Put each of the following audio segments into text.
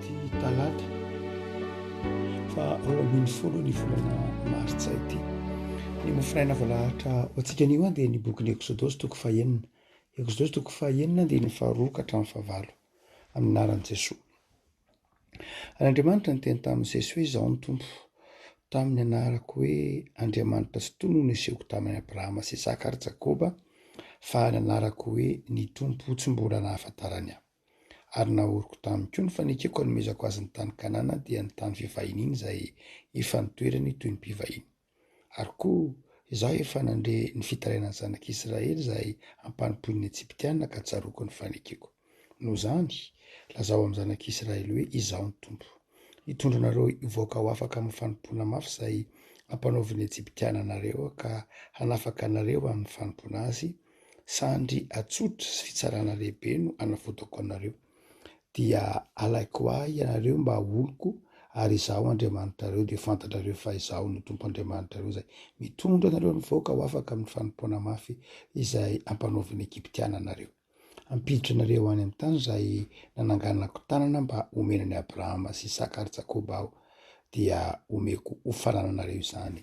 ity talata fa roa ambin'ny folo ny volana martsa ity ny mofinaina voalahatra ho antsika anio an dia ny bokin'ny eksodosy toko fahenina eksodosy toko fahenina dia ny faharoa ka hatramin'ny fahavalo amin'ny naran'i jesoa ary andriamanitra ny teny tamin'i jesosy hoe izaho ny tompo tamin'ny anarako hoe andriamanitra sy tono ny sehoko tamin'ny abrahama sy isaka ary jakoba fa ny anarako hoe ny tompo tsy mbola nahafantarany ahy Ary nahoroko tamiko koa ny fanekeko hanomezako azy ny tany Kanana, dia ny tany fivahiniany izay efa nitoerany toy ny mpivahiny. Ary koa Izaho efa nandre ny fitarainan'ny zanak'i Israely izay ampanompoin'ny Ejiptiana ka tsaroako ny fanekeko. Noho izany, lazao amin'ny zanak'i Israely hoe, Izaho ny Tompo. Hitondra anareo hivoaka ho afaka amin'ny fanompoana mafy izay ampanaovin'ny Ejiptiana anareo ka hanafaka anareo amin'ny fanompoana azy, Sandry atsotra sy fitsarana lehibe no hanavotako anareo. Dia halaiko ahy ianareo mba oloko, ary Izaho Andriamanitrareo, dia ho fantatrareo fa Izaho no Tompo Andriamanitrareo izay mitondra anareo amin'ny vahoaka ho afaka amin'ny fanompoana mafy izay hampanaovin'ny Egyptiana anareo. Hampiditra anareo any amin'ny tany izay nananganako tanana mba homena an'i Abrahama sy Isaka ary Jakoba Aho, dia homeko ho fanananareo izany.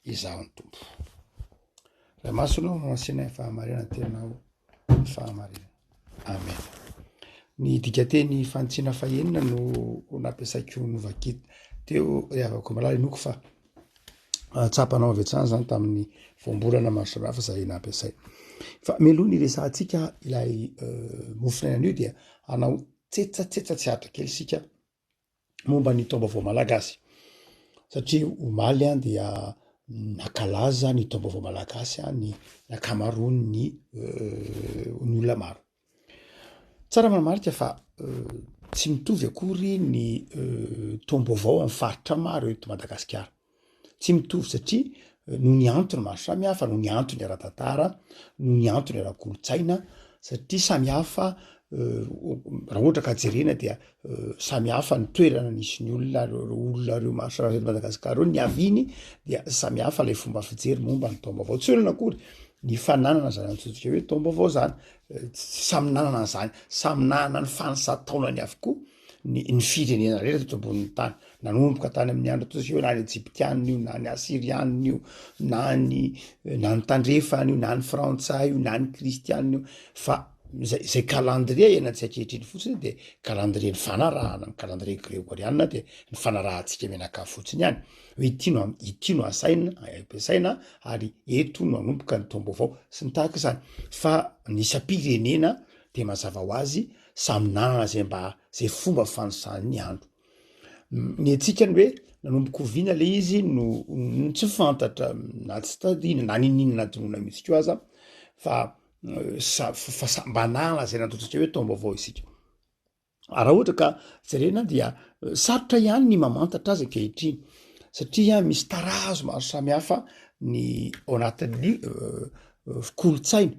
izaho ny tompo ilay masonao no asiana ny fahamarinana tenao ny fahamarinana amen ny dikateny fanitsina fahenina no nampiasaiko novakit teo rehavako malala inoko fa ah, tsapanao avy hatrany zany tamin'ny voambolana maro samihafa zay nampiasay fa meloha ny resahantsika ilay euh, mofinenan'io dia anao tsetsatsetsa tsy ato kely isika momba ny taom-baovao malagasy satria omaly dia nankalaza ny taom-baovao malagasy ny ankamaroan'ny ny olona maro. Tsara manamarika fa tsy mitovy akory ny taom-baovao amin'ny faritra maro eto Madagasikara. Tsy mitovy satria noho ny antony maro samihafa, noho ny antony ara-tantara, noho ny antony ara-kolontsaina satria samihafa raha ohatra ka jerena dia samihafa ny toerana nisy ny olona ary ireo olona ireo maro samihafa eto Madagasikara ireo niaviany dia samihafa ilay fomba fijery momba ny taom-baovao. Tsy hoe inona akory ny fananana izany antsointsika hoe taom-baovao izany, samy nanana an'izany, samy nanana ny fanisam-taonany avokoa. ny ny firenena rehetra teto ambonin'ny tany nanomboka tany amin'ny andro toy io na ny egyptianina io na ny asirianina io na ny na ny tandrefana io na ny frantsay io na ny kristianina io fa zay zay calendrier ianantsika ankehitriny fotsiny de calendrier ny fanarahana ny calendrier gregorianina de ny fanarahantsika menaka fotsiny ihany hoe ity no am- ity no asaina ampiasaina ary eto no anomboka ny taom-baovao sy ny tahaka izany fa ny isam-pirenena de mazava ho azy samy nanana zay mba zay fomba fanisany ny andro ny antsika ny hoe nanomboka oviana le izy no tsy fantatra na tsy tadina na ninina na dinoina mihitsy ko aza fa euh, sa fa sa mba nanana zay natotsika hoe taom-baovao isika ah, raha ohatra ka jerena dia euh, sarotra ihany ny mamantatra azy ankehitriny satria misy tarazo maro samihafa ny ao anatin'ny euh, kolontsaina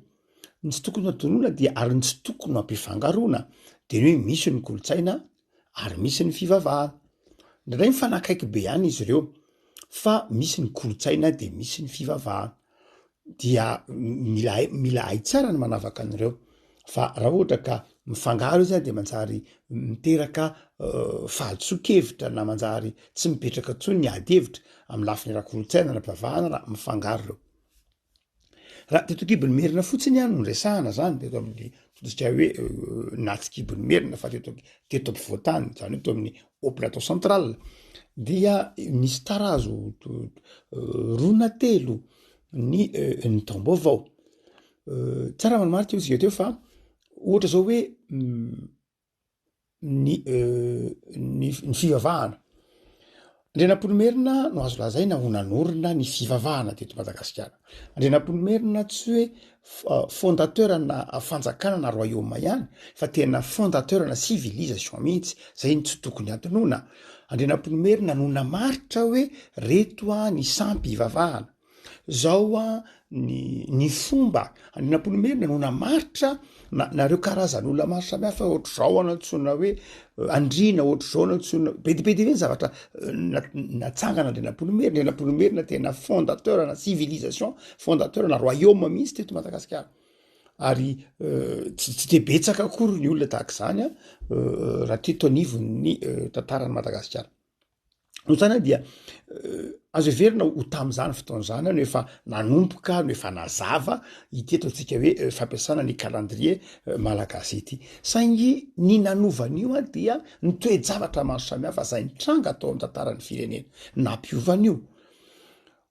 Ny tsy tokony hodoroana dia ary ny tsy tokony hampifangaroana dia ny hoe misy ny kolontsaina ary misy ny fivavahana. Indraindray mifanakaiky be ihany izy ireo fa misy ny kolontsaina dia misy ny fivavahana. Dia mila hay mila hay tsara ny manavaka an'ireo fa raha ohatra ka mifangaro izy dia manjary miteraka fahadisoan-kevitra na manjary tsy mipetraka intsony ny ady hevitra amin'ny lafiny ara-kolontsaina ara-pivavahana raha mifangaro ireo. Raha teto an-kibon'ny merina fotsiny no resahana zany teto amin'ny totosikay hoe nahatsikibon'ny merina fa teto teto ampovoan-tany zany hoe teo amin'ny haut plateau central dia misy tarazo roa na telo ny ny taom-baovao tsara maromaro teo isika teo fa ohatra zao hoe ny ny fivavahana. Andrianampoinimerina no azo lazaina ho nanorina ny fivavahana teto Madagasikara. Andrianampoinimerina tsy hoe fondateur ana fanjakana na royaume ihany fa tena fondateur ana civilisation mihitsy, zay no tsy tokony hadinoina. Andrianampoinimerina no namaritra hoe reto ny sampy ivavahana. Zao hoa ny ny fomba an'Inampoinimerina no namaritra na nareo karazan'olona maro samihafa ohatr'izao an antsoina hoe andriana ohatr'izao no antsoina be dia be dia be ny zavatra natsangana andrianampoinimerina Inampoinimerina tena fondateur na civilisation fondateur na royaume mihitsy teto Madagasikara ary tsy tsy dia betsaka akory ny olona tahaka izany an raha teto anivon'ny tantaran'i Madagasikara. no zany dia azo heverina ho tamin'izany fotoana izany no efa nanomboka no efa nazava ity atao ntsika hoe fampiasana ny kalandrie malagasy ity saingy ny nanovan'io a dia ny toe-javatra maro samihafa zay nitranga atao amin'ny tantaran'ny firenena nampiovan'io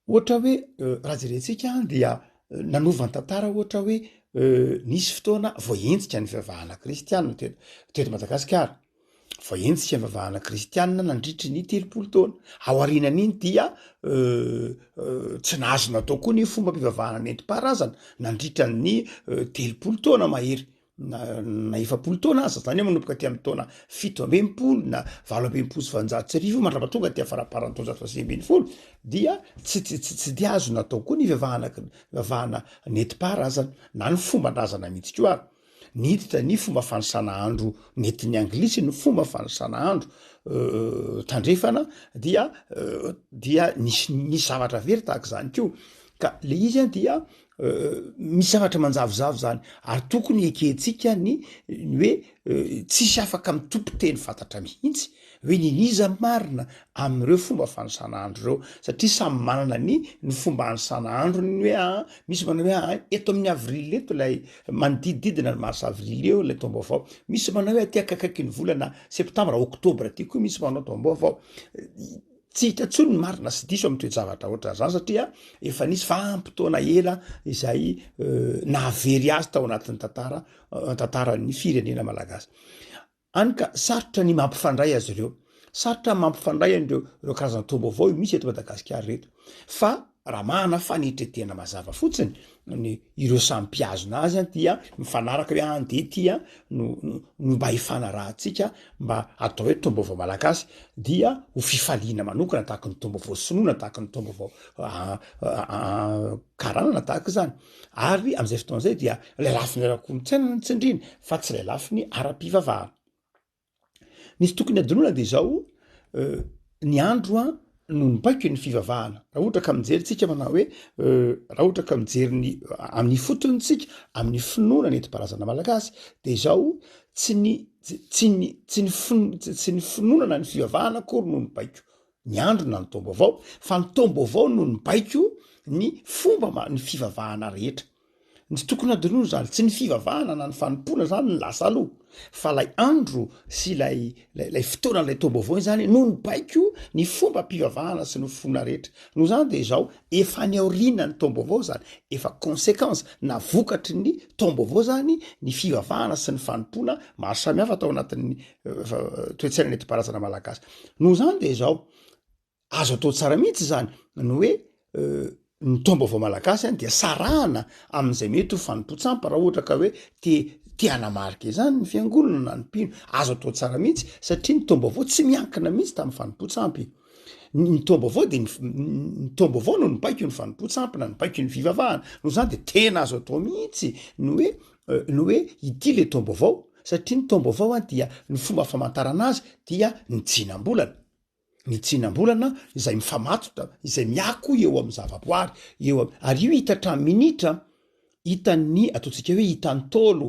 ohatra hoe raha jerentsika any dia nanovany tantara ohatra hoe nisy fotoana voahenjika ny fivavahana kristianina teto teto madagasikara Fa eny tsy fivavahana kristianina nandritry ny telopolo taona. Ao arinan'iny dia tsy nahazo natao koa ny fombam-pivavahana nentim-paharazana nandritra ny telopolo taona mahery na efapolo taona aza zany manomboka aty amin'ny taona fito amby enimpolo na valo amby enimpolo sy valonjato sy arivo mandrapa tonga aty afaraparan'ny taonjato faha sivy ambin'ny folo dia tsy tsy tsy tsy dia azo natao koa ny fivavahana fivavahana nentim-paharazana na ny fomban-drazana mihitsy koa ary Niditra ny fomba fanisana andro nentin'ny Anglisy ny fomba fanisana andro tandrefana dia dia nisy nisy zavatra very tahaka izany koa ka le izy an dia misy zavatra manjavozavo zany ary tokony ekentsika ny ny hoe tsisy afaka mitopy teny fantatra mihitsy Hoe ny n'iza marina amin'ireo fomba fanisana andro ireo, satria samy manana ny ny fomba anisana androny hoe aa misy manao hoe aa eto amin'ny avril eto ilay manodidididina ny mars avril eo ilay taom-baovao, misy manao hoe aty akakaiky ny volana septambra octobre aty koa misy manao taom-baovao, tsy hita intsony ny marina sy diso amin'ny toe-javatra ohatran'izany satria efa nisy vanim-potoana ela izay nahavery azy tao anatin'ny tantara tantaran'ny firenena malagasy. Hany ka sarotra ny mampifandray azy ireo. Sarotra ny mampifandray an'ireo ireo karazan-toa vaovao io misy eto Madagasikara ireto. Fa raha manana fanetredrena mazava fotsiny ny ireo samy mpihazona azy an dia mifanaraka hoe an dia ity an no no mba hifanarahantsika mba atao hoe toam-baovao malagasy dia ho fifaliana manokana tahaka ny toam-baovao sinoa na tahaka ny toam-baovao karana na tahaka izany. Ary amin'izay fotoana izay dia ilay lafiny ara-kolontsaina no nitsindriana fa tsy ilay lafiny ara-pivavahana. Ny tsy tokony hadinoina dia izao, ny andro a no nibaiko ny fivavahana. Raha ohatra ka mijery tsika manao hoe raha ohatra ka mijery ny amin'ny fotony tsika amin'ny finoana ny enti-parazana malagasy dia izao tsy ny tsy ny tsy ny finoana na ny fivavahana akory no nibaiko ny andro na ny taom-baovao fa ny taom-baovao no nibaiko ny fomba ma ny fivavahana rehetra ny tsy tokony adinoana izany tsy ny fivavahana na ny fanompoana izany ny lasa aloha fa ilay andro sy ilay lay lay fotoana ilay taom-baovao izany no nibaiko ny fomba mpivavahana sy ny fona rehetra noho izany dia izao efa ny aoriana ny taom-baovao izany efa conséquence na vokatry ny taom-baovao izany ny fivavahana sy ny fanompoana maro samihafa tao anatin'ny toetsaina netim-parazana malagasy noho izany de zao azo atao tsara mihitsy zany ny hoe ny taom-baovao malagasy any dia sarahana amin'izay mety ho fanompoan-tsampy raha ohatra ka hoe te te hanamarika izany ny fiangonana na ny mpino azo atao tsara mihitsy satria ny taom-baovao tsy miankina mihitsy tamin'ny fanompoan-tsampy ny taom-baovao de ny taom-baovao no nibaiko ny fanompoan-tsampy na nibaiko ny fivavahana noho izany de tena azo atao mihitsy ny hoe ny hoe ity le taom-baovao satria ny taom-baovao dia ny fomba famantarana azy dia ny tsinam-bolana, ny tsinam-bolana izay mifamatotra, izay miako eo amin'ny zavaboary, eo am- ary io hita hatramin'ny minitra, hitan'ny ataontsika hoe hitan'ny Ntaolo,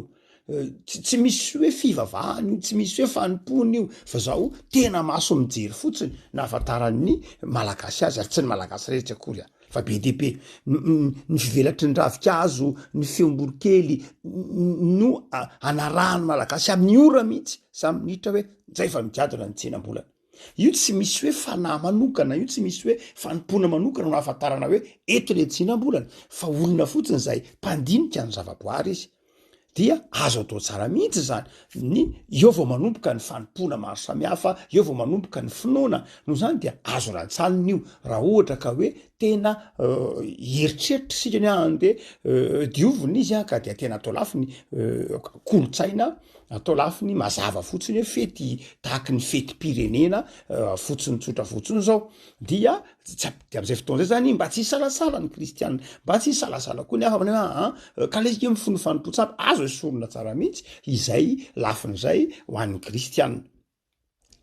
tsy tsy misy hoe fivavahana io, tsy misy hoe fanompoana io, fa zao tena maso mijery fotsiny, nahafantaran'ny Malagasy azy ary tsy ny Malagasy rehetra akory an. Fa be dia be ny fivelatry ny ravinkazo, ny feom-boronkely no anarahan'ny Malagasy amin'ny ora mihitsy, samy minitra hoe izay fa migadona ny tsenam-bolana. Io tsy misy hoe fanahy manokana, io tsy misy hoe fanompoana manokana no ahafantarana hoe eto ilay tsenam-bolana fa olona fotsiny izay mpandinika ny zavaboary izy. dia azo atao tsara mihitsy zany ny eo vao manomboka ny fanompoana maro samihafa eo vao manomboka ny finoana noho zany dia azo rantsalina io raha ohatra ka hoe tena heritreritra isika ny aany de diovina izy an ka dia tena atao lafy ny kolontsaina atao lafy ny mazava fotsiny hoe fety tahaky ny fetim-pirenena fotsiny tsotra fotsiny zao dia Tsap de am'zay fotoana zay zany mba tsy hisalasala ny kristiana mba tsy hisalasala koa ny hafa manao hoe aa ka le izy mifono ny fanompoantsa aby azo esorina tsara mihitsy izay lafin'izay ho an'ny kristiana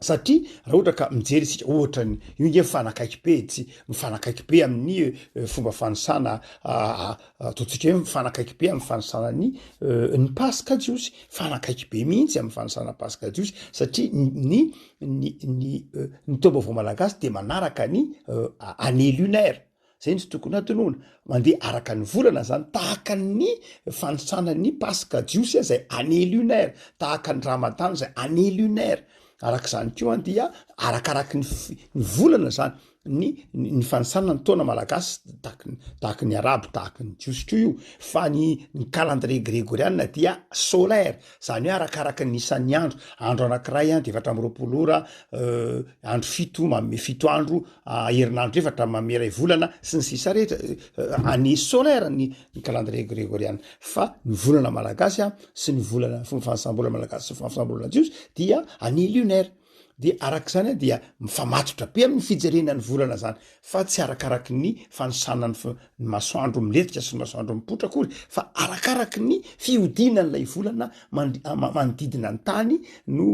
satria raha ohatra ka mijery isika ohatra ny io nge mifanakaiky be tsy mifanakaiky be amin'ny fomba fanisana ataontsika hoe mifanakaiky be amin'ny fanisana ny ny paska jiosy fanakaiky be mihitsy amin'ny fanisana paska jiosy satria ny ny ny ny taom-baovao malagasy dia manaraka ny année lunaire, zay no tokony hatonona, mandeha araka ny volana zany, tahaka ny fanisana ny paska jiosy an zay année lunaire, tahaka ny ramadany zay année lunaire, arak'izany koa dia arakaraky ny volana zany. ny ny fanisana ny taona malagasy tahaky ny tahaky ny arabo tahaky ny jiosy koa io fa ny ny calendrier gregoriana dia solaire zany hoe arakaraky ny isan'ny andro andro anankiray a dia efatra amby roapolo ora andro fito manome fito andro herinandro efatra manome iray volana sy ny sisa rehetra année solaire ny ny calendrier gregoriana fa ny volana malagasy a sy ny volana fomba fanisam-bola malagasy sy fomba fanisam-bola jiosy dia année lunaire Dia araka izany dia mifamatotra be amin'ny fijerena ny volana izany fa tsy arakaraky ny fanisana ny ny masoandro milefitra sy ny masoandro mipoitra akory fa arakaraky ny fihodinan'ilay volana manodidina ny tany no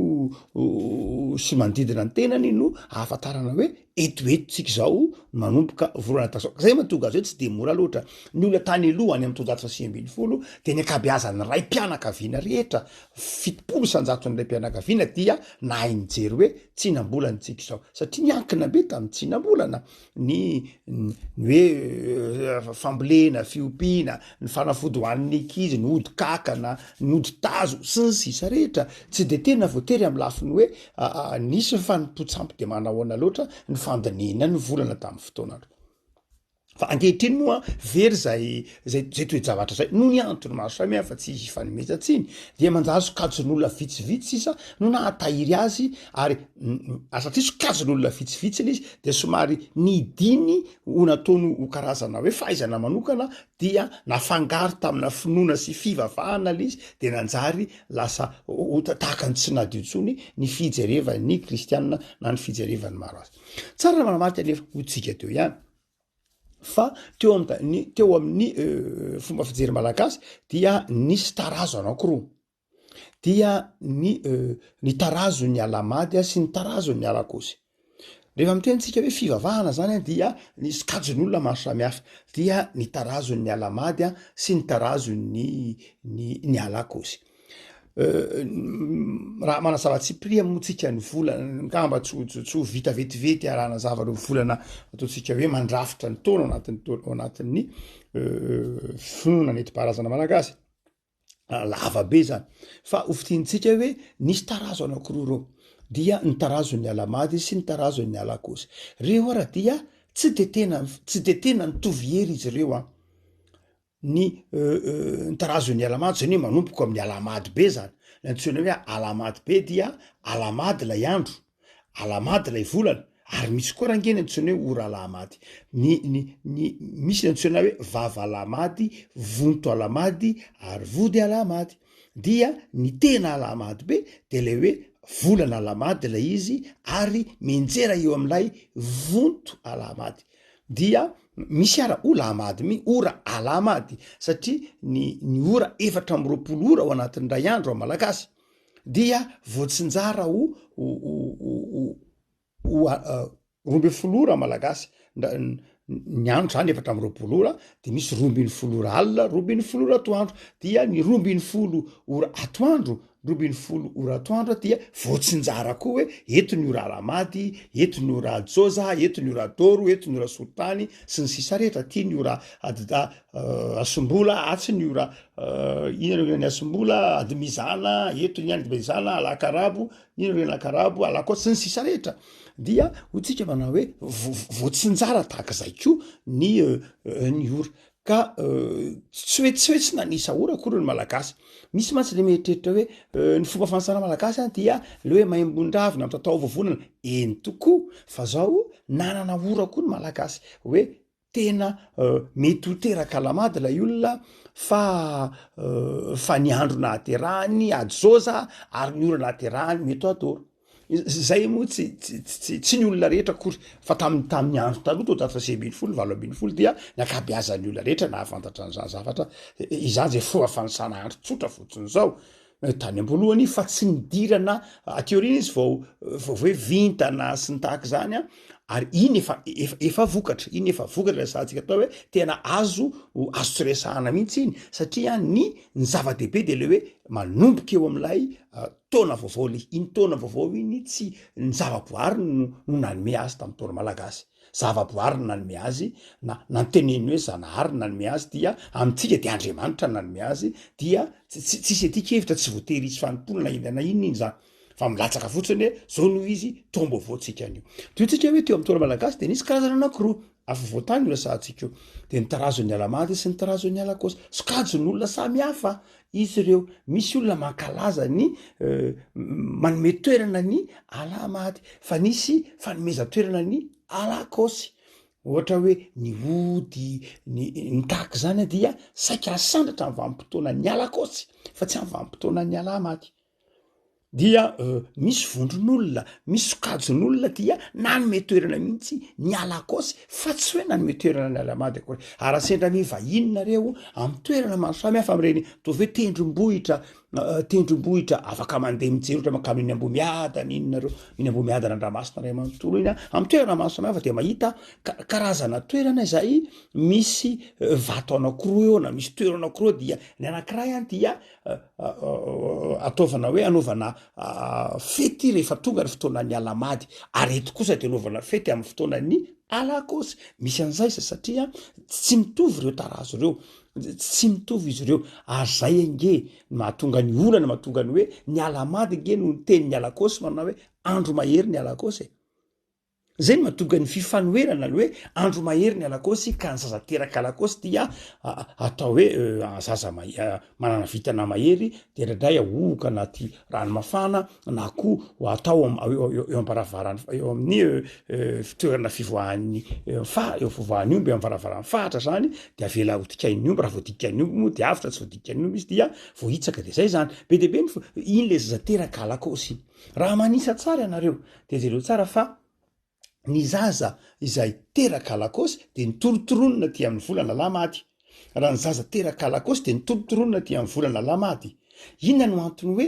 sy manodidina ny tenany no ahafantarana hoe eto eto tsika izao manomboka volana tazoka zay matonga azy hoe tsy de mora loatra ny olona tany aloha any amin'ny taonjato fa sivy ambin'ny folo dia ny ankabeazan'ny raim-pianakaviana rehetra fitopolo isan-jaton'ilay mpianakaviana dia nahay nijery hoe tsinam-bolana tsika izao satria niankina be tamin'ny tsinam-bolana ny ny hoe euh, fambolena fiompiana ny fanafody hoan'ny ankizy ny ody kakana ny ody tazo sy ny sisa rehetra tsy de tena voatery amin'ny lafiny hoe Aa nisy ny fanompoan-tsampy dia manahoana loatra ny fandinihina ny volana tamin'ny fotoanandro. Fa ankehitriny moa very izay izay izay toe-javatra izay noho ny antony maro samihafa tsy hifanomezan-tsiny dia manjary sokajin'olona vitsivitsy sisa no nahatahiry azy ary ary satria sokajin'olona vitsivitsy ilay izy dia somary nidiny ho nataony ho karazana hoe fahaizana manokana dia nafangaro tamina finoana sy fivavahana lay izy dia nanjary lasa ota tahaka ny tsy nadio intsony ny fijerevan'ny kristianina na ny fijerevan'ny maro azy. Tsara ny manamariky anefa ho tsika teo ihany fa teo amin'ny teo amin'ny euh, fomba fijery malagasy dia nisy tarazo anankiroa. dia ny ny tarazon'ny Alahamady sy ny tarazon'ny Alakôsy. Rehefa miteny antsika hoe fivavahana zany a dia ny sokajin'olona maro samihafa dia ny tarazon'ny Alahamady a sy ny tarazon'ny ny ny Alakôsy. Raha manazava tsipiriha moa tsika ny volana angamba tsy ho tsy ho vita vetivety raha hanazava ireo volana ataontsika hoe mandrafitra ny taona ao anatin'ny taona ao anatin'ny finoana nentim-paharazana malagasy. lava be zany fa ho fidintsika hoe nisy tarazo anakiroa ireo dia ny tarazon'ny alamady sy ny tarazon'ny alakosy reo ara dia tsy de tena tsy de tena nitovy hery izy ireo a ny euh, euh, ny tarazon'ny alamady zany hoe manompoko amin'ny alamady be zany ny antsoina hoe alamady be dia alamady lay andro Alahamady ilay volana, ary misy koa raha ange ny antsoina hoe ora alahamady. Ny ny ny misy ny antsoina hoe vava alahamady, vonto alahamady ary vody alahamady. Dia ny tena alahamady be dia ilay hoe volana alahamady ilay izy ary mianjera eo amin'ilay vonto alahamady. Dia misy ara o lahamady mi ora alahamady satria ny ny ora efatra amby roapolo ora ao anatin'ny iray andro amin'ny malagasy. dia voatsinjara ho roa ambin'ny folo ora malagasy ny andro zany efatra amby roapolo ora de misy roa ambin'ny folo ora alina roa ambin'ny folo ora atoandro dia ny roa ambin'ny folo ora atoandro roa ambin'ny folo ora atoandro dia voatsinjara koa hoe eto ny ora alamady eto ny ora jôza eto ny ora dôro eto ny ora solitany sy ny sisa rehetra aty ny ora adida Asimbola, atsiny io ra, inona no ren'ny Asimbola, Adimizana, eto ny any Dimezana, Alakarabo, inona no ren'ny Alakarabo, Alakôty, sy ny sisa rehetra. Dia hotsika manao hoe voatsinjara tahak'izay koa ny ny ora. Ka tsy hoe tsy hoe tsy nanisa ora akory ny Malagasy. Misy mantsy le mieritreritra hoe ny fomba fanasana Malagasy dia le hoe maimbondravina mitatao vovonana, eny tokoa, fa zao nanana ora koa ny Malagasy hoe. tena mety ho teraka lamady ilay olona fa fa ny andro nahaterahany ady soza ary ny ora nahaterahany mety adoro zay moa tsy tsy tsy ny olona rehetra akory fa tamin'ny tamin'ny andro taloha teo tato fasi ambin'ny folo valo ambin'ny folo dia ny akabiazan'ny olona rehetra nahafantatra an'izany zavatra izany zay fomba fanisana andro tsotra fotsiny izao tany amboalohany fa tsy nidirana aty aoriana izy vao vao hoe vintana sy ny tahaka izany a ary iny efa efa efa vokatra iny efa vokatra lay sahantsika atao hoe tena azo azo tsy resahana mihitsy iny satria ny ny zava-dehibe dia le hoe manomboka eo amin'ilay ah, taona vaovao le iny taona vaovao iny tsy ny zava-boariny no no nanome azy tamin'ny taona malagasy Zavaboary no nanome azy, na nanteneniny hoe Zanahary no nanome azy, dia amintsika dia Andriamanitra no nanome azy, dia tsy tsisy aty kevitra, tsy voatery hisy fanompoana na inona na inona iny zany, fa milatsaka fotsiny hoe zao no izy, toa mba ovaontsika an'io. Toy antsika hoe teo amin'ny Torah malagasy dia nisy karazana anankiroa, afovoan-tany io resahantsika io, dia ny tarazon'ny Alamandy sy ny tarazon'ny Alakôsa. Sokajin'olona samy hafa Izy ireo, misy olona mankalaza ny manome toerana ny Allah maty, fa nisy fanomezan-toerana ny Allah kaosy, ohatra hoe ny ody, ny ny tahaka izany, dia saika hasandratra amin'ny vanim-potoanan'ny Allah kaosy, fa tsy amin'ny vanim-potoanan'ny Allah maty. dia misy vondron'olona misy sokajin'olona dia nanome toerana mihitsy ny alakôsy fa tsy hoe nanome toerana ny alamady akory ary raha sendra ny vahiny nareo amy toerana maro samy hafa am'ireny ataovy hoe tendrombohitra eh, tendrombohitra afaka mandeha mijery ohatra mankano iny ambomiadana iny nareo iny ambomiadana andramasina ray manontolo iny a amy toerana maro samy hafa dia mahita karazana toerana izay misy eh, vato anakoroa eo na misy toerana akoroa dia ny anakiray any dia ataovana hoe anaovana fety rehefa tonga ny fotoanan'ny alamady ary eto kosa dia anaovana fety amin'ny fotoanan'ny alakosy misy an'izay za satria tsy mitovy ireo tarazo ireo tsy mitovy izy ireo ary zay ange mahatonga ny olana mahatonga ny hoe ny alamady ange no ny teny ny alakosy manao hoe andro mahery ny alakosy e. Izay no mahatonga ny fifanoherana ny hoe andro mahery ny alakaosy ka ny zaza teraka alakaosy dia atao hoe zaza manana vintana mahery dia indraindray ahohoka anaty rano mafana na koa atao eo am-baravarany eo amin'ny fitoerana fivoahan'ny faha eo fivoahan'ny omby eo am-varavaran'ny fahatra izany dia avela hodikain'ny omby raha vao dikain'ny omby moa dia avotra tsy vao dikain'ny omby izy dia voahitsaka dia izay izany be dia be ny iny ilay zaza teraka alakaosy iny Raha manisa tsara ianareo dia jereo tsara fa ny zaza izay teraka alakôsy dia nitorontoronina aty amin'ny volana Alahady. Raha ny zaza teraka alakôsy dia nitorontoronina aty amin'ny volana Alahady. Inona no antony hoe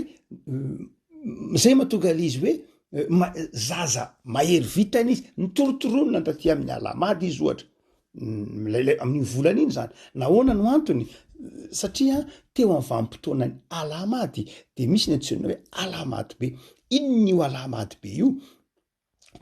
izay mahatonga izy hoe zaza mahery vitana izy, nitorontoronina taty amin'ny Alahady izy ohatra. lailay amin'iny volana iny zany nahoana no antony satria teo amin'ny vanimpotoanany alamady de misy ny antsoina hoe alamady be inona io alamady be io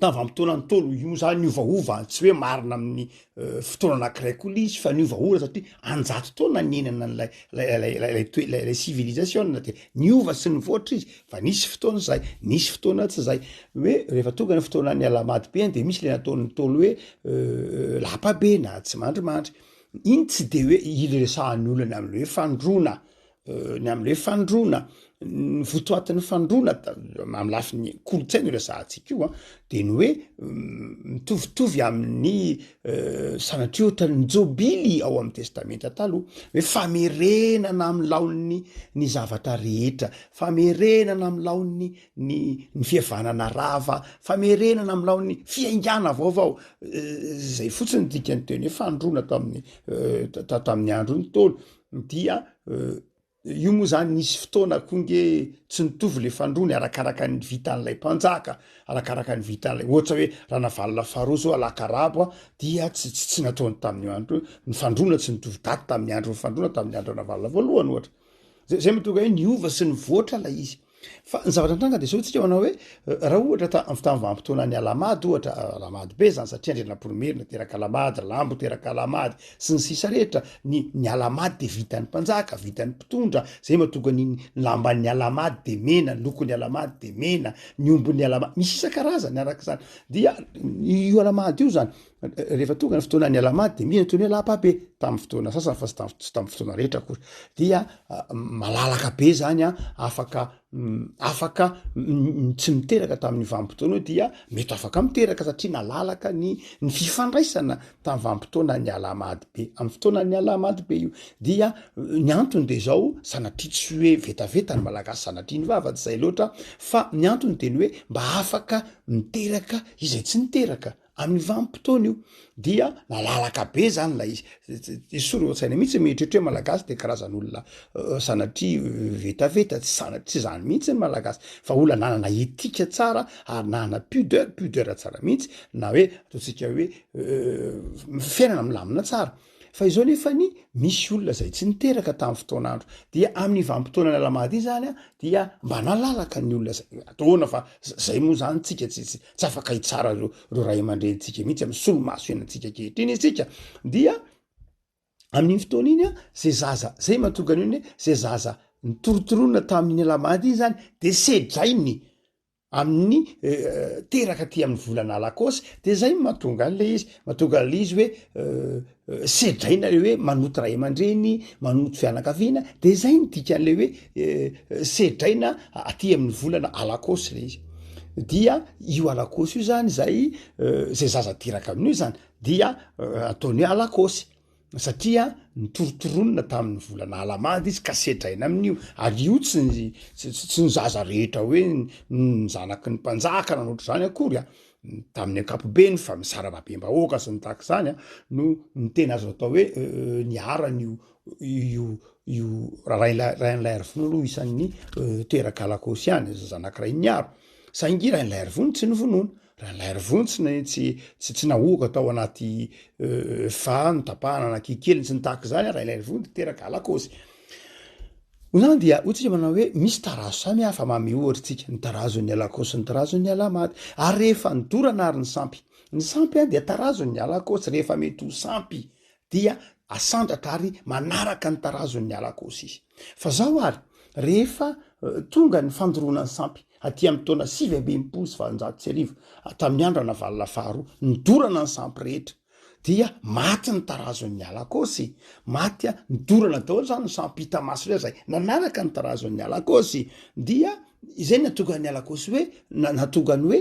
tamin'ny vanimpotoana ny tolo io zany ovaova tsy hoe marina amin'ny eh, fotoana anankiray koa lay izy fa ny ovaova satria anjato taona niainana an'lay lay lay lay lay toe- lay lay civilisation de niova sy nivoatra izy Fa nisy fotoana izay, nisy fotoana tsy izay. Hoe rehefa tonga ny fotoanan'ny alahamady be any dia misy le nataon'ny Ntaolo hoe lapa be na tsimandrimandry. Iny tsy dia hoe iresahan'ny olona ny amin'ny hoe fandroana, ny amin'ny hoe fandroana, ny votoatin'ny fandroana amin'ny lafiny kolontsaina io resahantsika io an, dia ny hoe mitovitovy amin'ny Sanatria ohatran'ny ny jobily ao amin'ny testamenta taloha hoe famerenana amin'ny laoniny ny zavatra rehetra, famerenana amin'ny laoniny ny ny fihavanana rava, famerenana amin'ny laoniny fiaingàna vaovao, zay fotsiny dikany teny hoe fandroana tamin'ny tamin'ny andron'ny Ntaolo dia Io moa izany nisy fotoana koa nge tsy nitovy ilay fandroany arakaraka ny vitan'ilay mpanjaka, arakaraka ny vitan'ilay ohatra hoe Ranavalona faharoa izao alaka arabo dia tsy tsy tsy nataony tamin'io andro io, ny fandroana tsy nitovy daty tamin'ny andro nifandroana tamin'ny andro Ranavalona voalohany ohatra. Zay zay mahatonga hoe niova sy nivoatra ilay izy. Fa ny zavatra nitranga dia izao tsika manao hoe raha ohatra ta amin'ny vanim-potoanan'ny alamady ohatra alamady be zany satria andrianampoinimerina teraka alamady lambo teraka alamady sy ny sisa rehetra ny ny alamady dia vitan'ny mpanjaka vitan'ny mpitondra zay matoga ny lamban'ny alamady de mena lokon'ny alamady de mena ny ombon'ny alamady misy isan-karazany araka izany dia io alamady io zany rehefa tonga ny fotoana ny alamady de mihena toy ny hoe lapa be tamin'ny fotoana sasany fa tsy tamin'ny fotoana rehetra akory dia ah, malalaka be zany a ah, afaka mm, afaka mm, tsy miteraka tamin'ny vanim-potoana io dia mety afaka miteraka satria nalalaka ny ny fifandraisana tamin'ny vanim-potoana ny alamady be amin'ny fotoana ny alamady be io dia ny antony de zao sanatria tsy hoe vetaveta ny malagasy sanatria ny vava tsy zay loatra fa ny antony de ny hoe mba afaka miteraka izay tsy niteraka Amin'ny vanim-potoana io dia malalaka be zany ilay izy, tsy soron-tsaina mihitsy mieritreritra hoe Malagasy dia karazan'olona sanatria vetaveta, tsy zany, tsy zany mihitsy ny Malagasy fa olona nanana éthique tsara ary nanana pudeur, pudeur tsara mihitsy na hoe ataontsika hoe fiainana milamina tsara. Fa izao nefa ny misy olona izay tsy niteraka tamin'ny fotoan'andro. Dia amin'ny vanim-potoana nalamady iny izany dia mba nalalaka ny olona izay. Ataona fa izay moa izany tsika tsy tsy tsy afaka hitsara ireo ireo ray aman-drenintsika mihitsy amin'ny solomaso iainantsika ankehitriny isika. Dia amin'iny fotoana iny izay zaza izay mahatonga an'io ny hoe izay zaza nitorotoroana tamin'ny nalamady iny izany dia sedrainy amin'ny teraka aty amin'ny volana alakôsy de zay no mahatonga any le izy mahatonga le izy hoe sedraina le hoe manoto ray aman-dreny manoto fianakaviana de zay ny dikan'le hoe sedraina aty amin'ny volana alakôsy le izy dia io alakôsy io zany zay zay zaza teraka amin'io zany dia ataony hoe alakôsy Satria nitorontoronina tamin'ny volana Alamady izy ka sedraina amin'io, ary io tsy ny, tsy, tsy ny zaza rehetra hoe ny zanaky ny mpanjaka na ny ohatr'izany akory an, tamin'ny ankapobeny fa misarababem-bahoaka sy ny tahaka izany an, no no tena azo atao hoe niharan'io io io rahain'ilay rain'ilay Arivony aloha isan'ny teraka Lakôsy ihany, zazanak'i Rainiharo, saingy i rain'ilay Arivony tsy novonoina. Rahalahy ry vontsy na tsy tsy tsy nahoaka tao anaty fa notapahana na kikely tsy nitahaka izany ary ilay vontsy niteraka alakaosy Izany dia hoy tsika manao hoe misy tarazo samy hafa mamy ohatra tsika ny tarazon'ny alakaosy ny tarazon'ny alamaty ary rehefa nidorana ary ny sampy ny sampy dia tarazon'ny alakaosy rehefa mety ho sampy dia asandratra ary manaraka ny tarazon'ny ala kosa izy. Fa zao ary, rehefa tonga ny fandoroana ny sampy, aty amin'ny taona sivy amby enimpolo sy valonjato sy arivo, tamin'ny andro Ranavalona faharoa, nidorana ny sampy rehetra, dia maty ny tarazon'ny ala kosy, maty, nidorana daholo izany ny sampy hita maso rehetra izay nanaraka ny tarazon'ny ala kosy, dia Izay no nahatonga ny alakôsy hoe nahatonga ny hoe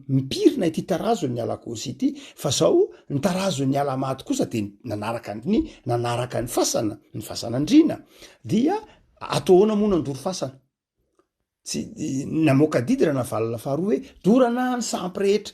mipirina ity tarazon' ny alakôsy ity fa zao ny tarazon' ny alamaty kosa dia nanaraka ny nanaraka ny fasana ny fasana andriana dia ato ahoana moa nandoro fasana tsy namoaka didy Ranavalona faharoa hoe dorana ny sampy rehetra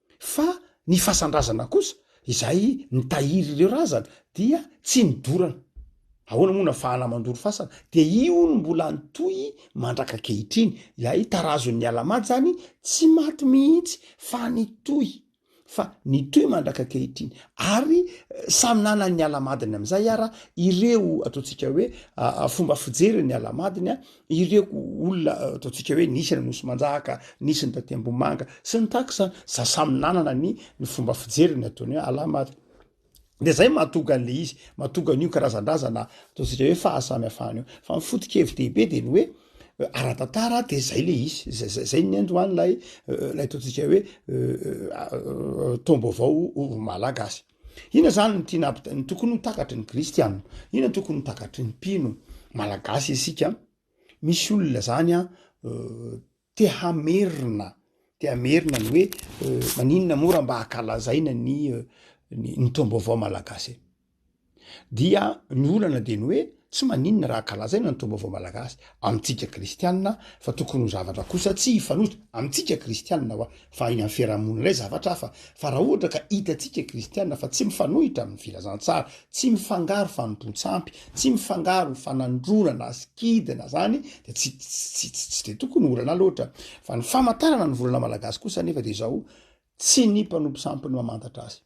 Fa ny fasan-drazana kosa, izay nitahiry ireo razana, dia tsy nidorana. Ahoana moa no afahana mandoro fasana? Dia io no mbola nitohy mandraka ankehitriny. Ilay tarazon'ny ala-maty izany tsy maty mihitsy fa nitohy, fa nitohy mandraka ankehitriny. Ary samy nanan'ny ala-madiny amin'izay ara ireo, ataontsika hoe, fomba fijery ny ala-madiny, Ireo olona ataontsika hoe nisy any Nosy Manjaka, nisy ny taty Ambohimanga sy ny tax an, za samy nanana ny ny fomba fijeriny ataony hoe alah maty. De zay mahatonga an'le izy, mahatonga an'io karazan-drazana ataontsika hoe fahasamihafana io. Fa ny foto-kevi-dehibe de ny hoe ara-tantara de zay le izy, zay zay zay ny androany lay lay ataontsika hoe taom-baovao ho Malagasy. Inona izany no tiana hampita- no tokony ho takatry ny kristiana? Inona no tokony ho takatry ny mpino malagasy isika? Misy olona zany an te hamerina, te hamerina ny hoe maninona moa raha mba ankalazaina ny ny ny taom-baovao malagasy e? dia ny olana dia ny hoe Tsy maninona raha kalazaina ny Taom-baovao Malagasy amintsika Kristianina fa tokony ho zavatra kosa tsy hifanojo amintsika Kristianina hoa fa any amin'ny fiarahamonina indray zavatra hafa fa raha ohatra ka hitantsika Kristianina fa tsy mifanohitra amin'ny filazantsara, tsy mifangaro fanompoan-tsampy, tsy mifangaro fanandroana na sikidy na zany dia tsy tsy tsy dia tokony ho olana loatra. Fa ny famantarana ny volana Malagasy kosa anefa dia izao, tsy ny mpanompo sampy no mamantatra azy.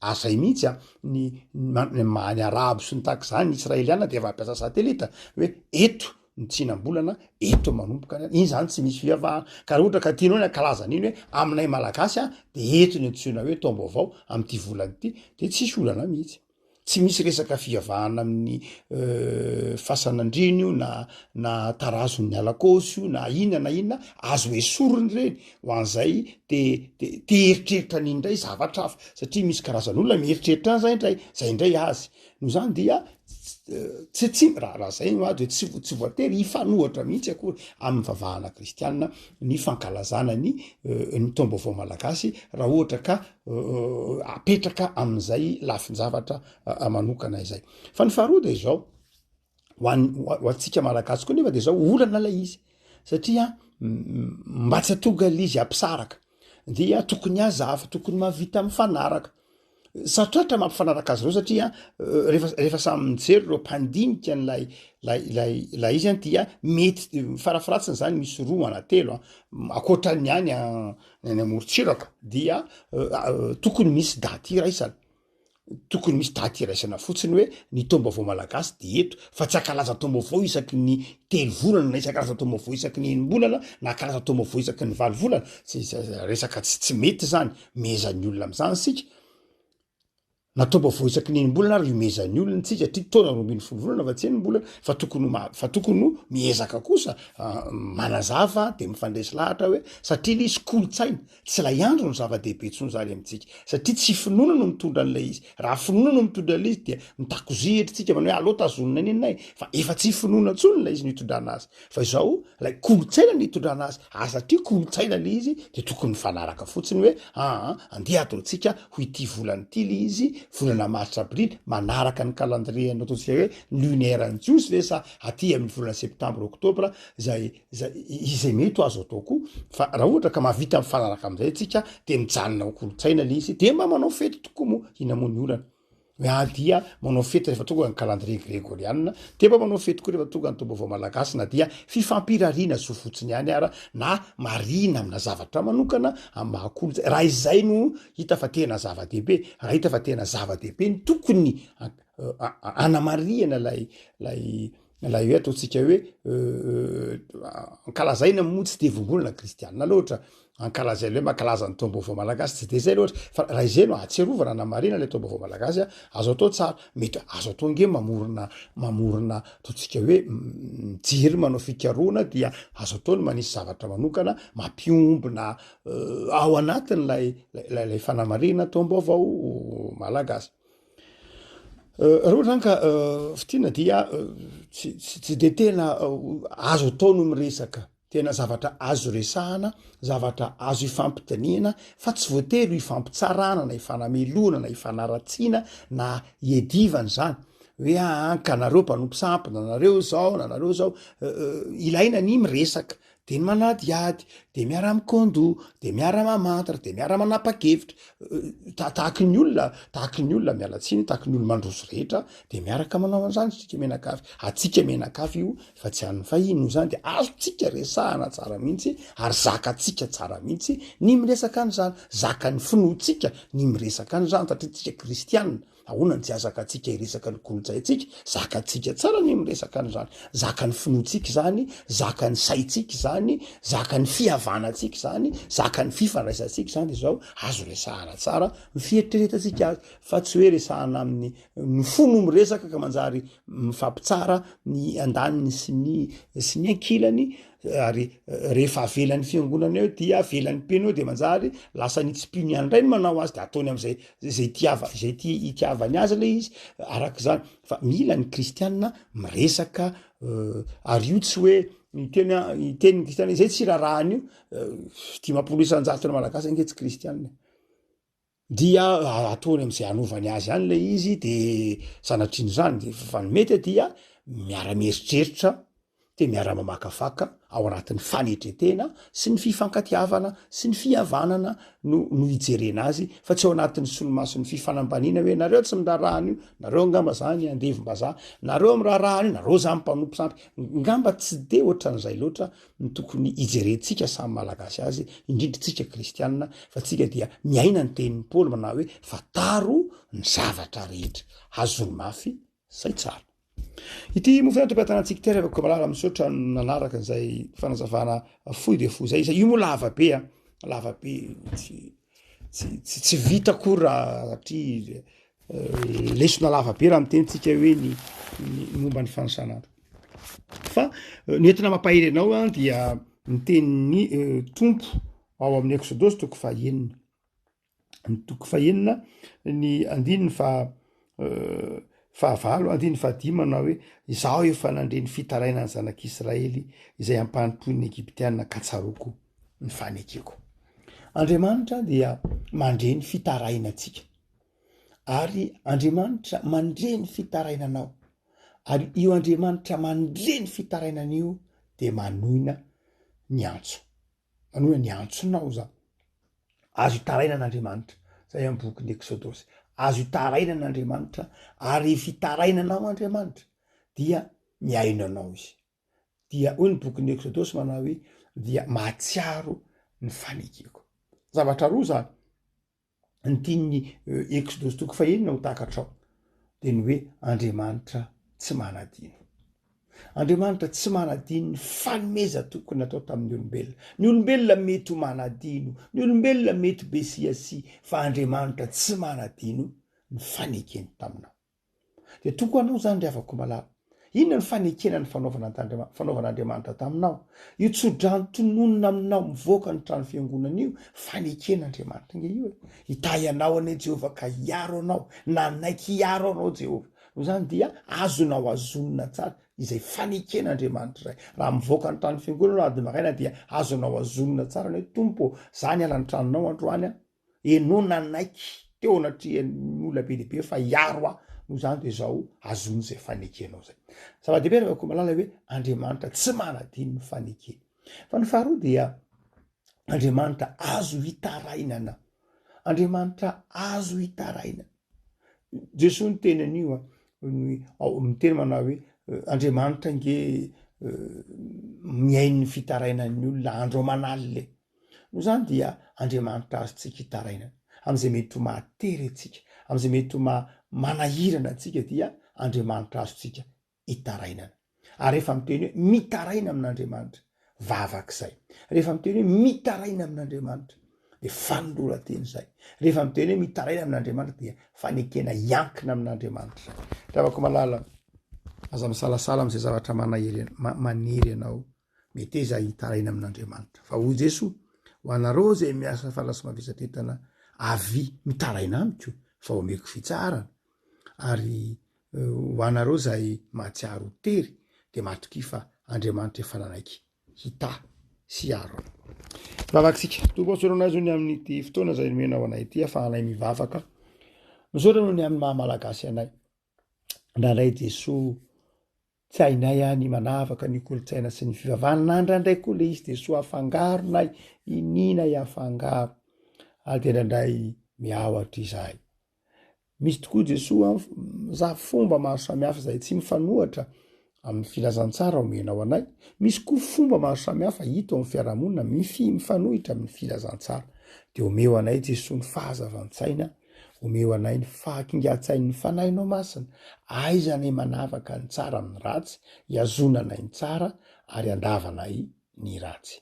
Ary zay mihitsy an, ny maha ny arabo sy ny tahaka izany, ny israeliana dia efa mampiasa satelita hoe eto ny tsinam-bolana, eto manomboka ny, iny zany tsy misy fivavahana, ka raha ohatra ka tianao ny hankalaza an'iny hoe aminay malagasy an, dia eto ny antsoina hoe taom-baovao amin'ity volana ity, dia tsisy olana mihitsy. Tsy misy resaka fivavahana amin'ny fasan'andriana io na na tarazon'ny alakaosy io na inona na inona, azo esorina ireny Ho an'izay te te te hieritreritra an'iny indray zavatra hafa satria misy karazan'olona mieritreritra an'izay indray, zay indray azy. Noho izany dia tsy tsy raha raha zay no ady dia tsy tsy voatery hifanohitra mihitsy akory amin'ny vavahana kristiana ny fankalazana ny ny taom-baovao malagasy raha ohatra ka apetraka amin'izay lafin-javatra manokana izay. Fa ny faharoa dia izao. ho an ho antsika malagasy koa nefa de zao olana lay izy satria mba tsy atonga lay izy ampisaraka dia tokony azava tokony mahavita mifanaraka sarotrarotra mampifanaraka azy reo satria refa refa samy mijery reo mpandinika an'lay lay lay lay izy any dia mety farafaratsiny zany misy roa ana telo a akoatran'ny any a ny any amorotsiraka dia tokony misy daty iraisana Tokony misy daty iraisana fotsiny hoe ny taom-baovao malagasy dia eto fa tsy hankalaza taom-baovao isaky ny telo volana na isan-karazany taom-baovao isaky ny enim-bolana na hankalaza taom-baovao isaky ny valo volana zay resaka tsy tsy mety zany mihezan'ny olona amin'izany isika na taom-baovao isaky ny enim-bolana ary hihomezan'ny olona antsika satria taona roa ambin'ny folo volana fa tsy enim-bolana fa tokony ho fa tokony ho miezaka kosa ah, manazava dia mifandresy lahatra hoe satria nisy kolontsaina Tsy ilay andro no zava-dehibe intsony izany amintsika, satria tsy finoana no mitondra an'ilay izy. Raha finoana no mitondra an'ilay izy, dia mitakozia hetritsika manao hoe aleo tazonina anie ninay, fa efa tsy finoana intsony ilay izy no itondrana azy, fa izao ilay kolontsaina no itondrana azy, ary satria kolontsaina ilay izy, dia tokony mifanaraka fotsiny hoe aa andeha ataontsika ho ity volana ity ilay izy, volana martsa aprily, manaraka ny calendrier-n'ny ataontsika hoe lunaire-n'ny jiosy ve sa aty amin'ny volana septambra oktobra izay Izay, izay mety ho azo atao koa, fa raha ohatra ka mahavita mifanaraka amin'izay antsika, dia mijanona ho kolontsaina ilay izy, dia mba manao fety tokoa moa, inona moa ny olana? Hoe ah dia manao fety rehefa tonga ny calendrier gregoriana, dia mba manao fety koa rehefa tonga ny taom-baovao malagasy, na dia fifampirariana zo fotsiny ihany ara, na marihina amina zavatra manokana amin'ny maha kolontsaina, raha izay no hita fa tena zava-dehibe, raha hita fa tena zava-dehibe ny tokony hanamarihana ilay, ilay, Ilay ataontsika hoe ankalazaina moa tsy dia vongolona kristianina loatra, ankalazaina hoe mankalaza ny taom-baovao malagasy tsy dia izay loatra fa raha izay no ahatsiarovana na marihina ilay taom-baovao malagasy azo atao tsara, mety hoe azo atao ange mamorona mamorona ataontsika hoe mijery manao fikarohana dia azo atao ny manisy zavatra manokana mampiombona ao anatin'ilay ilay fanamarihina taom-baovao malagasy. Raha ohatra zany ka fitina dia tsy de tena azo atao ny miresaka, tena zavatra azo resahana, zavatra azo ifampidinihana fa tsy voatery ho ifampitsarana na ifanamelohana na ifanaratsiana na iadivana zany hoe aa ka nareo mpanompo sampy na nareo zao na nareo zao, ilaina ny miresaka dia ny manadihady, dia miara-mikôndò, dia miara-mamantra, dia miara-manapa-kevitra, tahaky ny olona, tahaky ny olona miala tsiny, tahaky ny olona mandroso rehetra, dia miaraka manao an'izany isika mianakavy, antsika mianakavy io fa tsy an'ny fahiny, noho izany dia azontsika resahana tsara mihitsy ary zakantsika tsara mihitsy ny miresaka an'izany, zakan'ny finoantsika ny miresaka an'izany satria isika kristianina, Ahoana ny tsy hazakatsika hiresaka ny kolontsaintsika? Zakantsika tsara ny miresaka an'izany. Zakan'ny finoantsika izany, zakan'ny saintsika izany, zakan'ny fihavanantsika izany, zakan'ny fifandraisantsika izany izao. Azo resahana tsara ny fieritreretantsika azy fa tsy hoe resahana amin'ny ny fo no miresaka ka manjary mifampitsara ny andaniny sy ny sy ny ankilany ary rehefa avelan'ny fiangonana eo dia avelan'ny mpino eo de manjary lasa ny tsy mpino ihany indray ny manao azy de ataony am'izay zay tiava zay ti itiavany azy le izy araka izany fa mila ny kristianina miresaka ary io tsy hoe ny teny ny teny ny kristianina izay tsy rarahan'io dimampolo isan-jaton'ny malagasy ange tsy kristianina dia ataony am'zay anovany azy any le izy de sanatriany zany de fa ny mety dia miara mieritreritra de miara mamakafaka ao anatin'ny fanetretena sy ny fifankatiavana sy ny fihavanana no no hijerena azy fa tsy ao anatin'ny solomason'ny fifanambaniana hoe nareo tsy miraharaha an'io nareo angamba zany andevim-bazaha nareo miraharaha an'io nareo zany mpanompo sampy ngamba tsy de ohatran'izay loatra no tokony hijerentsika samy Malagasy azy, indrindra tsika Kristianina, fa tsika dia miaina ny tenin'i Paoly manao hoe, fantaro ny zavatra rehetra, azony mafy izay tsara. Ity mofo antoka tanantsika ity, Revaka Komalala, misaotra nanaraka izay fanazavana fohy dia fohy izay, izay io moa lava be, lava be, tsy Tsy vita akory raha satria lesona lava be raha miteny tsika hoe ny momba ny fanisana fa ny entina mampahery anao an dia ny tenin'ny tompo ao amin'ny eksodosy toko fahenina ny toko fahenina ny andininy fa Fahavalo andininy fahadimy manao hoe, Izaho efa nandre ny fitarainan'ny zanak'Israely izay ampanompoin'ny Egyptiana ka tsaroako ny fanekeko. Andriamanitra dia mandre ny fitarainantsika ary Andriamanitra mandre ny fitarainanao ary io Andriamanitra mandre ny fitarainan'io dia manoina ny antso. Manao hoe ny antsonao izany. Azo hitaraina an'Andriamanitra. Izay amin'ny bokin'ny Eksodosy. Azo hitaraina an'Andriamanitra ary rehefa hitarainanao Andriamanitra dia mihaino anao izy. Dia hoy ny bokin'ny Eksodosy manao hoe dia mahatsiaro ny fanekeko. Zavatra roa izany. ny tian'ny Eksodosy toko fahenina ho takatrao dia ny hoe Andriamanitra tsy manadino. Andriamanitra tsy manadino ny fanomeza tokony natao tamin'ny olombelona. Ny olombelona mety ho manadino, ny olombelona mety ho besiasia, fa Andriamanitra tsy manadino ny fanekeny taminao. Dia toa koa anao izany ry havako malala. Inona no fanekena ny fanaovana fanaovan'Andriamanitra taminao? Io tsodrano tononina aminao mivoaka ny trano fiangonana io, fanekena Andriamanitra nge io e. Hitahy anao anie Jehovah ka hiaro anao, nanaiky hiaro anao Jehovah. Noho izany dia azonao azonina tsara izay fanekena Andriamanitra izay. Raha mivoaka ny trano fiangonana ianao ady maraina dia azonao azonina tsara ny hoe Tompo ô, izaho niala ny tranonao androany an. Enao nanaiky teo anatrehan'ny olona be dia be fa hiaro ahy, noho izany dia izao azony izay fanekenao izay. Zava-dehibe raha koa malala hoe Andriamanitra tsy manadino ny fanekeny. Fa ny faharoa dia Andriamanitra azo hitarainana. Andriamanitra azo hitarainana. Jesoa ny teny an'io a, miteny manao hoe Andriamanitra nge mihaino ny fitarainan'ny olona andro aman'alina e. Noho izany dia Andriamanitra azontsika itarainana, amin'izay mety ho mahatery antsika, amin'izay mety ho maha manahirana antsika dia Andriamanitra azontsika itarainana. Ary rehefa miteny hoe mitaraina amin'Andriamanitra, vavaka izay. Rehefa miteny hoe mitaraina amin'Andriamanitra dia fanoloran-tena izay. Rehefa miteny hoe mitaraina amin'Andriamanitra dia fanekena hiankina amin'Andriamanitra izay. Ry havako malala, aza misalasala amin'izay zavatra manahery, manery anao. Meteza hitaraina amin'Andriamanitra. Fa hoy Jeso, Ho anareo izay miasa falasy mavesatretana, avia mitaraina amiko, fa omeko fitsaharana. Ary ho anareo izay mahatsiaro ho tery, dia matokia fa Andriamanitra efa nanaiky hitahy sy hiaro anao. Vavakantsika. Tompo, atsorano azy ny amin'ity fotoana izay nomenao anay ity, afahanay mivavaka. Misaotra noho ny amin'ny maha-malagasy anay. Indraindray Jesoa tsy hainay any manavaka ny kolontsaina sy ny fivavahana na indraindray koa le izy dia soa afangaro na iniana afangaro ary dia indraindray miahotra izahay. Misy tokoa Jesoa za fomba maro samihafa izay tsy mifanohatra Amin'ny filazantsara omenao anay, misy koa fomba maro samihafa hita eo amin'ny fiarahamonina mifi, mifanohitra amin'ny filazantsara. Dia omeo anay Jesoa ny fahazavan-tsaina, omeo anay ny fahakingan-tsain'ny Fanahinao Masina, aiza anay manavaka ny tsara amin'ny ratsy, ihazonanay ny tsara ary andavanay ny ratsy.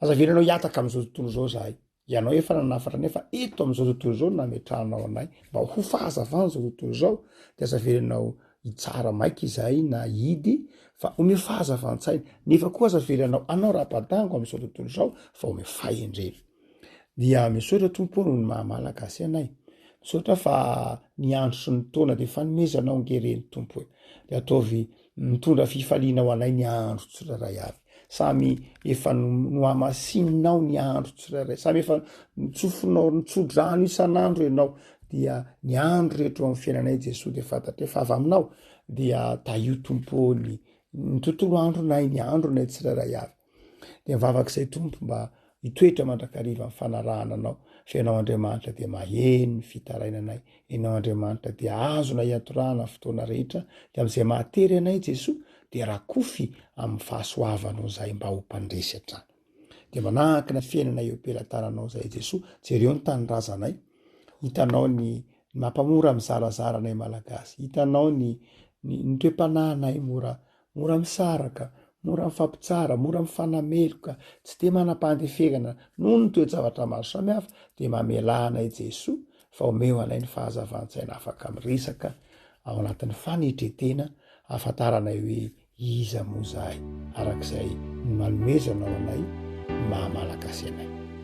Aza avelanao hihataka amin'izao tontolo izao izahay, Ianao efa nanafatra nefa eto amin'izao tontolo izao nametrahanao anay mba ho fahazavana izao tontolo izao dia aza avelanao hitsara maika izahay na hidy fa omeo fahazavan-tsaina nefa koa aza avelanao anao rabadango amin'izao tontolo izao fa omeo fahendrena. Dia misaotra Tompo noho ny maha-malagasy anay. Misaotra fa ny andro sy ny taona dia fanomezanao nge ireny Tompo e. Dia ataovy Mitondra fifaliana ho anay ny andro tsirairay avy. Samy efa nohamasininao ny andro tsirairay. Samy efa nitsofinao, nitsodrano isan'andro ianao. Dia ny andro rehetra eo amin'ny fiainanay Jesoa dia fantatray fa avy aminao. Dia tahio Tompo ny, ny tontolo andronay, ny andronay tsirairay avy. Dia mivavaka izay Tompo mba hitoetra mandrakariva ny fanarahana Anao, fa Ianao Andriamanitra dia maheno ny fitarainanay, Ianao Andriamanitra dia azonay iatorahana ny fotoana rehetra, dia amin'izay mahatery anay Jesoa dia rakofy amin'ny fahasoavanao izahay mba ho mpandresy hatrany. Dia manahaka ny fiainanay eo am-pelatananao izahay Jesoa, jereo ny tanindrazanay, hitanao ny mampamora mizarazara anay Malagasy, hitanao ny ny, ny toe-panahinay mora Mora misaraka, mora mifampitsara, mora mifanameloka, tsy dia manam-pandeferana noho ny toe-javatra maro samihafa, dia mamelà anay Jesoa fa omeo anay ny fahazavan-tsaina afaka miresaka ao anatin'ny fanetren-tena ahafantaranay hoe iza moa izahay, arak'izay ny manomezanao anay ny maha-Malagasy anay.